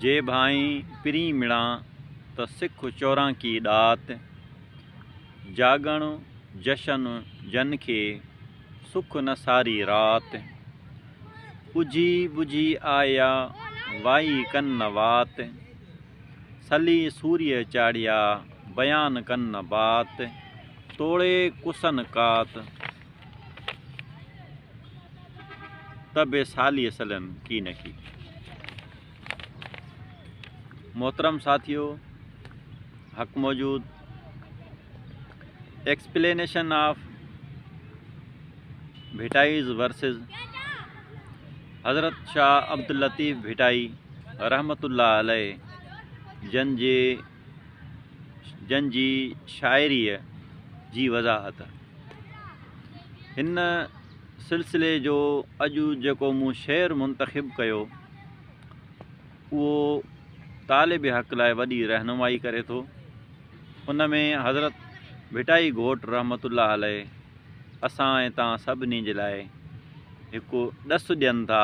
جي ڀائين پرين مڙان ته سک چورانڪي ڏات، جاڳڻ جشن جن کي سک نه ساري رات، اجهي ٻجهي آيا وائي ڪن نه وات، سلي سوريء چاڙهيا بيان ڪن نه بات، توڙي ڪسن ڪات ته بي ساليء سلين ڪي نه ڪي. محترم ساٿيو حق موجود ايڪسپلينيشن آف ڀٽائيز ورسز حضرت شاهه عبداللطيف ڀٽائي رحمت الله عليه جن جي جن جي شاعريء جي وضاحت هن سلسلي جو اڄ جيڪو مون شعر منتخب ڪيو اهو طالب حق لاء وڏي رهنمائي ڪري ٿو ان ۾ حضرت ڀٽائي گهوٽ رحمت الله عليه اسان ۽ توهان سڀني جي لاء هڪ ڏس ڏين ٿا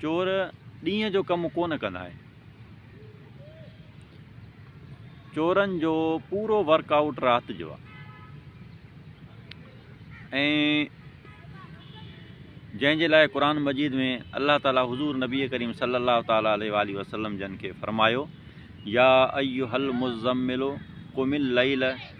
چور ڏينهن جو ڪم ڪونه ڪندا آهن چورن جو پورو ورڪ آئوٽ رات جو آهي جنهن جي لاء قرآن مجيد ۾ الله تعالٰي حضور نبي ڪريم صلي الله تعالٰي عليه وآله وسلم جن کي فرمايو يا ايها المزمل قم الليل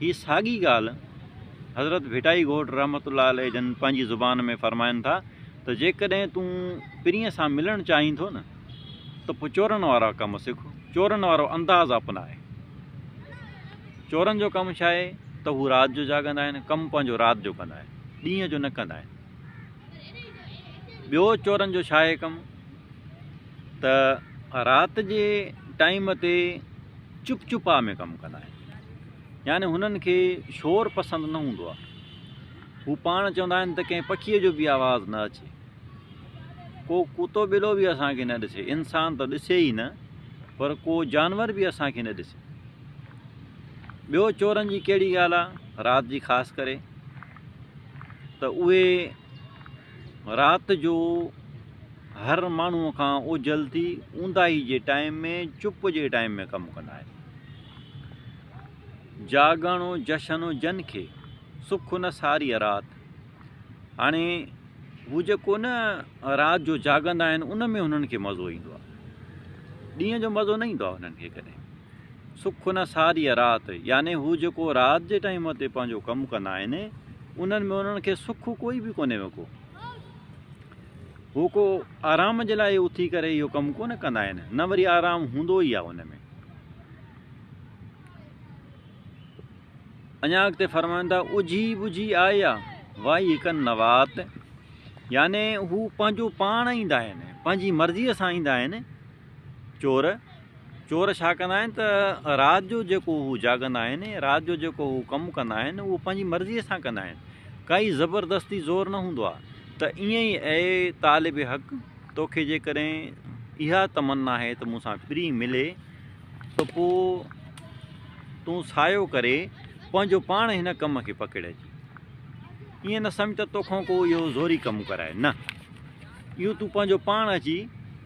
هي ساڳي ڳالهه حضرت ڀٽائي گهوٽ رحمة الله عليه جن پنهنجي زبان ۾ فرمائن ٿا ته جيڪڏهن تون پرينء سان ملڻ چاهين ٿو نه ته پوء چورن وارا ڪم سک، چورن وارو انداز اپناء. چورن جو ڪم ڇا آهي ته هو رات جو جاڳندا آهن، ڪم پنهنجو رات جو ڪندا آهن، ڏينهن جو نه ڪندا آهن. ٻيو چورن جو ڇا اهي ڪم ته رات جي ٽائيم تي چپ چپا ۾ ڪم ڪندا آهن يعني هنن کي شور پسند نه هوندو آهي هو پاڻ چوندا آهن ته ڪنهن پکيء جو به آواز نه اچي ڪو ڪتو ٻلو به اسانکي نه ڏسي انسان ته ڏسي ئي نه پر ڪو جانور به اسانکي نه ڏسي ٻيو چورن جي ڪهڙي ڳالهه آهي رات جي خاص ڪري ته اهي رات جو هر ماڻهوء کان اوجهل ٿي اونداهي جي ٽائيم ۾ چپ جي ٽائيم ۾ ڪم ڪندا آهن. جاڳڻ جشن جن کي، سک نه ساريء رات. هاڻي هو جيڪو نه رات جو جاڳندا آهن ان ۾ هنن کي مزو ايندو آهي. ڏينهن جو مزو نه ايندو آهي هنن کي ڪڏهن. سک نه ساريء رات، يعني هو جيڪو رات جي ٽائيم تي پنهنجو ڪم ڪندا آهن، انهن ۾ انهن کي سک ڪوئي به ڪونهي وڪو. هو ڪو آرام جي لاء اٿي ڪري اهو ڪم ڪونه ڪندا آهن، نه وري آرام هوندو ئي آهي ان ۾. اڃا اڳتي فرمائن ٿا، اجهي ٻجهي آئي آ، وائي هڪن نوات، يعني هو پنهنجو پاڻ ايندا آهن، پنهنجي مرضيء سان ايندا آهن، چور، چور ڇا ڪندا آهن ته رات جو جيڪو هو جاڳندا آهن ۽ رات جو جيڪو هو ڪم ڪندا آهن اهو پنهنجي مرضيء سان ڪندا آهن ڪائي زبردستي زور نه هوندو آهي ته ائين ئي اي طالب حق توکي جيڪڏهن اها تمنا آهي ته مون سان پرينء ملي ته پوء تون سايو ڪري پنهنجو پاڻ هن ڪم کي پڪڙج ائين نه سمجهه ته توکان ڪو اهو زوري ڪم ڪرائي نه اهو تون پنهنجو پاڻ اچي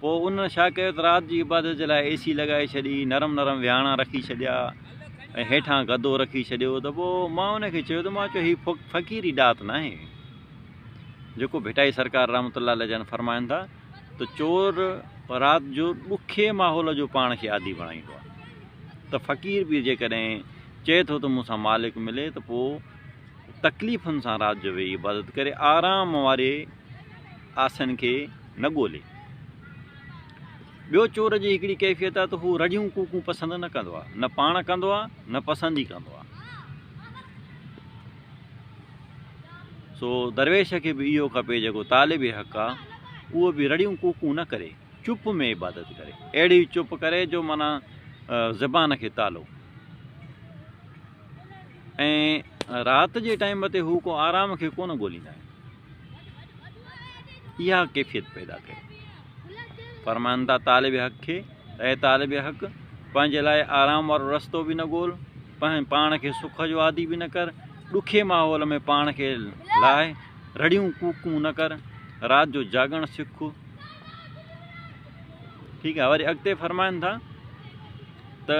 پوء انهن ڇا ڪيو ته رات جي عبادت جي لاء اي سي لڳائي ڇڏي، نرم نرم ويهاڻا رکي ڇڏيا ۽ هيٺان گدو رکي ڇڏيو ته پوء مان انهن کي چيو ته مان چيو هي فقيري ڏات ناهي جيڪو ڀٽائي سرڪار رحمة الله عليه جن فرمائن ٿا ته چور رات جو ڏکي ماحول جو پاڻ کي عادي بڻائيندو آهي ته فقير به جيڪڏهن چئي ٿو ته مون سان مالڪ ملي ته پوء تڪليفن سان رات جو ويهي عبادت ڪري آرام واري آسن کي نه ڳولي. ٻيو چور جي هڪڙي ڪيفيت آهي ته هو رڙيون ڪوڪون پسند نه ڪندو آهي، نه پاڻ ڪندو آهي نه پسند ئي ڪندو آهي. سو درويش کي به اهو کپي جيڪو طالب حق آهي اهو به رڙيون ڪوڪون نه ڪري، چپ ۾ عبادت ڪري، اهڙي چپ ڪري جو معنيٰ زبان کي تالو. ۽ رات جي ٽائيم تي هو ڪو آرام کي ڪونه ڳوليندا آهن. اها ڪيفيت پيدا ڪيو. فرمائن ٿا طالب حق کي اي طالب حق! پنهنجي لاء آرام وارو رستو به نه ڳول، پاڻ کي سک جو عادي به نه ڪر، ڏکي ماحول ۾ پاڻ کي لاهه، رڙيون ڪوڪون نه ڪر، رات جو جاڳڻ سک. ٺيڪ آهي وري اڳتي فرمائن ٿا ته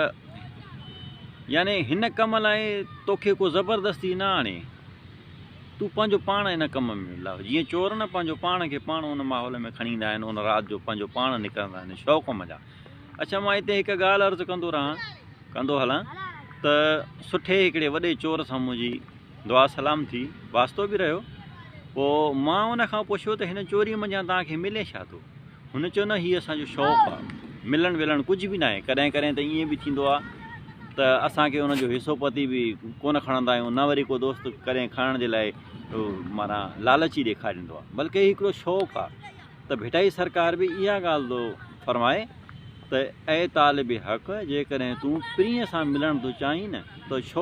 يعني هن ڪم لاء توکي ڪو زبردستي نه آڻي. تون پنهنجو پاڻ ان ڪم ۾ لاء. جيئن چور نه پنهنجو پاڻ کي پاڻ ان ماحول ۾ کڻي ايندا آهن، ان رات جو پنهنجو پاڻ نڪرندا آهن شوق ڪم جا. اڇا مان هتي هڪ ڳالهه عرض ڪندو رهان، ڪندو هلان ته سٺي هڪڙي وڏي چور سان منهنجي دعا سلام ٿي، واسطو به رهيو، پوء مان ان کان پڇيو ته هن چوريء منجهان توهان کي ملي ڇا ٿو؟ هن چيو نه هي اسان جو شوق آ ملڻ ولڻ ڪجهه به ناهي ڪڏهن ڪڏهن ته ائين به ٿيندو آ ته اسان کي ان جو حصو پتي به ڪونه کڻندا آهيون نه وري ڪو دوست ڪڏهن کڻڻ جي لاء معنيٰ لالچ ئي ڏيکاريندو آ بلڪه هي هڪڙو شوق آ ته ڀٽائي سرڪار به اها ڳالهه ٿو فرمائي ته اي طالب حق جيڪڏهن تون پرينء سان ملڻ ٿو چاهين نه ته شوق